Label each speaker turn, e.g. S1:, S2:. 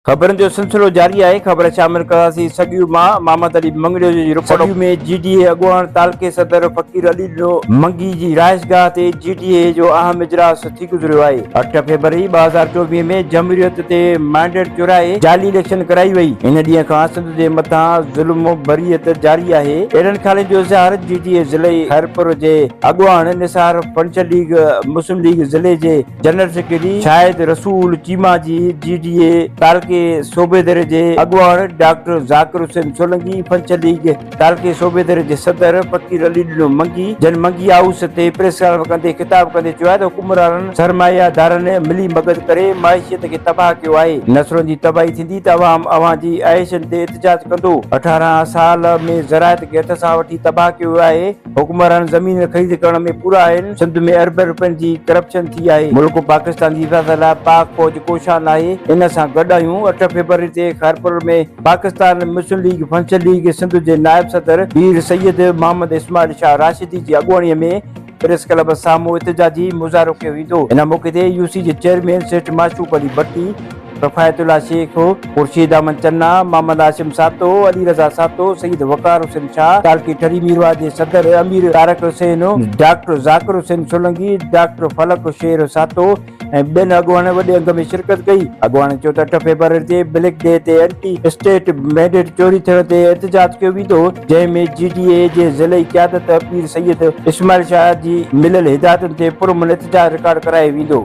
S1: خبرن جو سلسلو جاري آهي خبر شامل ڪرنداسين سڳيون ماء محمد علي مڱريجو جي رپورٽ سڳيون ۾ جي ڊي اي اڳواڻ تعلقي صدر فقير علي ڏنو منگي جي رهائش گاهه تي جي ڊي اي جو اهم اجلاس ٿي گذريو آهي اٺ فيبروري ٻه هزار چوويهه ۾ جمهوريت تي مينڊيٽ چورائي جعلي اليڪشن ڪرائي وئي ان ڏينهن کان سنڌ جي مٿان ظلم بريت جاري آهي اهڙن خيالن جو اظهار جي ڊي اي ضلعي خيرپور جي اڳواڻ نثار پنچ ليگ مسلم ليگ ضلعي جي جنرل سيڪريٽري شاهد رسول چيما جي جي ڊي اي تعلقي صوبيدر جي اڳواڻ ڊاڪٽر ذاڪر حسين سولنگي پنچ ليگ تعلقي صوبيدر جي صدر فقير علي ڏنو منگي جن منگي هائوس تي پريس ڪانف ڪندي خطاب ڪندي چيو آهي ته حڪمرانن سرمايه دارن ملي مگت ڪري معيشيت کي تباهه ڪيو آهي نسلن جي تباهي ٿيندي ته عوام اوهان جي عياشين تي احتجاج ڪندو اٺارهن سال ۾ زراعت کي هٿ سان وٺي تباهه ڪيو ويو آهي. حڪمران زمين خريد ڪرڻ ۾ پورا آهن سنڌ ۾ اربين روپين جي ڪرپشن ٿي آهي ملڪ پاڪستان جي حفاظت لاء پاڪ فوج ڪوشان ناهي ان سان گڏ آهيون اٺ فيبروري تي خيرپور ۾ پاڪستان مسلم ليگ فنشن ليگ سنڌ جي نائب صدر پير سيد محمد اسماعيل شاهه راشدي جي اڳواڻي ۾ پريس ڪلب سامهون احتجاجي مظاهرو ڪيو ويندو ان موقعي تي يو سي جي چيئرمين سيٺ معشوق علي ڀٽي ڪفايت الله شيخ، خورشيد احمد چنا، محمد هاشم ساهتو، علي رضا ساهتو، سيد وقار حسين شاهه، تعلقي ٺري ميرواهه جي صدر امير طارق حسين، ڊاڪٽر ذاڪر حسين سولنگي، ڊاڪٽر فلڪ شير ساهتو ۽ ٻين اڳواڻن وڏي انگ ۾ شرڪت ڪئي. اڳواڻن چيو ته اٺ فيبروري تي بليڪ ڊي تي اينٽي اسٽيٽ مينڊيٽ چوري ٿيڻ تي احتجاج ڪيو ويندو، جنهن ۾ جي ڊي اي جي ضلعي قيادت پير سيد اسماعيل شاهه جي مليل هدايتن تي پرامن احتجاج رڪارڊ ڪرايو ويندو.